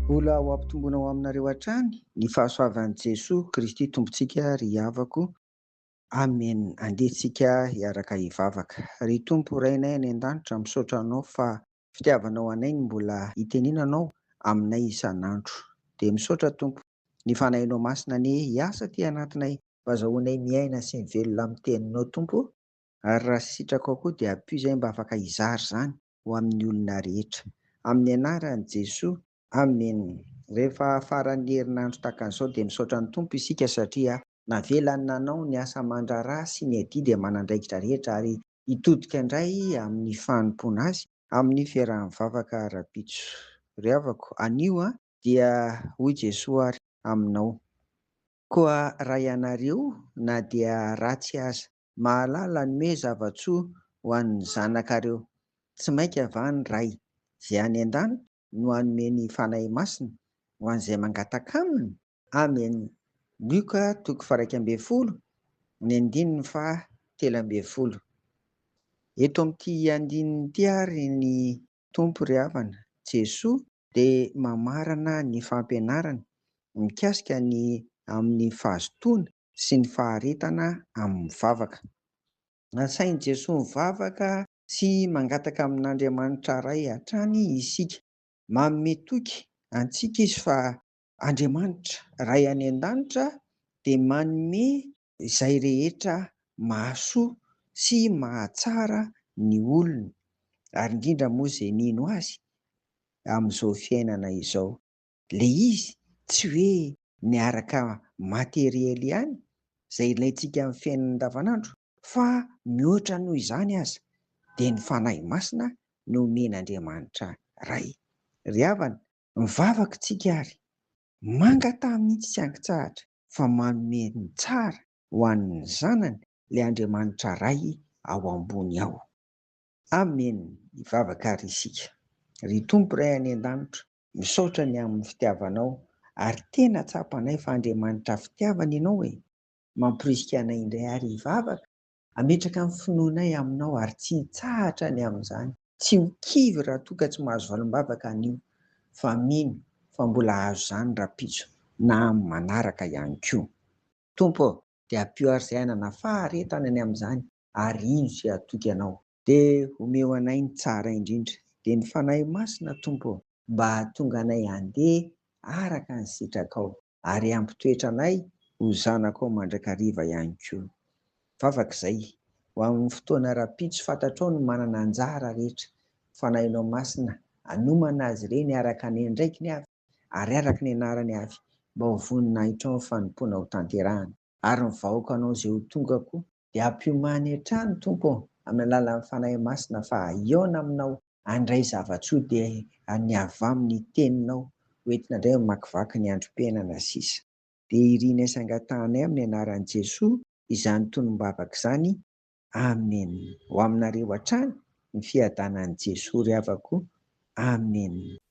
Mbola ho ampitomboina ho aminareo hatrany ny fahasoavan'i Jesoa Kristy Tompontsika ry havako. Amen andeha tsika hiaraka hivavaka. Ry Tompo Rainay any an-danitra misaotra Anao fa fitiavanao anay ny mbola hitenena Anao aminay isan'andro. Dia misaotra Tompo ny Fanahinao Masina anie hiasa aty anatinay. Mba azahoanay miaina sy mivelona amin'ny Teninao Tompo. Ary raha sitrako ao koa dia ampio izay mba afaka hizara izany ho amin'ny olona rehetra. Amin'ny anaran'i Jesoa. Amen. Rehefa faran'ny herinandro tahaka an'izao dia misaotra ny Tompo isika satria navelany nanao ny asa aman-draharaha sy ny adidy aman'andraikitra rehetra ary hitodika indray amin'ny fanompoana Azy amin'ny fiarahan'ny vavaka rahampitso. Ry havako, anio dia hoy Jesoa ary aminao. Koa raha ianareo na dia ratsy aza mahalala hanome zava-tsoa ho an'ny zanakareo. Tsy mainka va ny Ray izay any an-danitra no hanome ny Fanahy Masina ho an'izay mangataka Aminy? Amen. Lioka toko faha-iraika ambin'ny folo, ny andininy faha-telo ambin'ny folo. Eto amin'ity andininy ity àry ny Tompo ry havana, Jesoa, dia mamarana ny fampianarany mikasika ny amin'ny fahazotoana sy ny faharetana amin'ny vavaka. Nasain'i Jesoa mivavaka sy mangataka amin'Andriamanitra Ray hatrany isika. Manome toky antsika Izy fa Andriamanitra, Ray any An-danitra dia manome izay rehetra mahasoa sy mahatsara ny olony, ary indrindra moa izay mino Azy amin'izao fiainana izao. Ilay izy tsy hoe miaraka materiel ihany, izay ilaintsika amin'ny fiainana andavanandro, fa mihoatra noho izany aza, dia ny Fanahy Masina nomen'Andriamanitra Ray. Ry havana, Mivavaka isika ary mangataha mihitsy tsy ankitsahatra fa manome ny tsara ho an'ny zanany ilay Andriamanitra Ray ao ambony ao. Amen, hivavaka ary isika. Ry Tompo Ray any an-danitra, misaotra ny amin'ny fitiavanao ary tena tsapanay fa Andriamanitra fitiavana ianao e! Mamporisika anay indray ary hivavaka Hametraka ny finoanay Aminao ary tsy hitsahatra ny amin'izany. Tsy ho kivy raha toa ka tsy mahazo valim-bavaka anio, fa mino fa mbola hahazo izany rahampitso na amin'ny manaraka ihany koa. Tompo ô, dia ampio ary izay hanana faharetana ny amin'izany, ary hino izay hatoky Anao. Dia omeo anay ny tsara indrindra, dia ny Fanahy Masina, Tompo ô, mba hahatonga anay handeha araka ny sitrakao. ary hampitoetra anay ho zanakao mandrakariva ihany koa. Vavaka izay, ho amin'ny fotoana rahampitso fantatrao ny manana anjara rehetra, Fanahinao Masina hanomana azy ireny araka ny andraikiny avy ary araka ny anarany avy, mba ho voninahitrao ny fanompoana hotanterahana. Ary ny vahoakanao izay ho tonga koa, dia ampiomany hatrany Tompo ô amin'ny alalan'ny Fanahy Masina fa hihaona aminao handray zava-tsoa dia ny avy amin'ny teninao ho entina indray mamakivaky ny androm-piainana sisa dia irinay sy angatahanay amin'ny anaran'i Jesoa izany tonom-bavaka izany Amen ho aminareo hatrany ny fiadanan'i Jesoa ry havako Amen.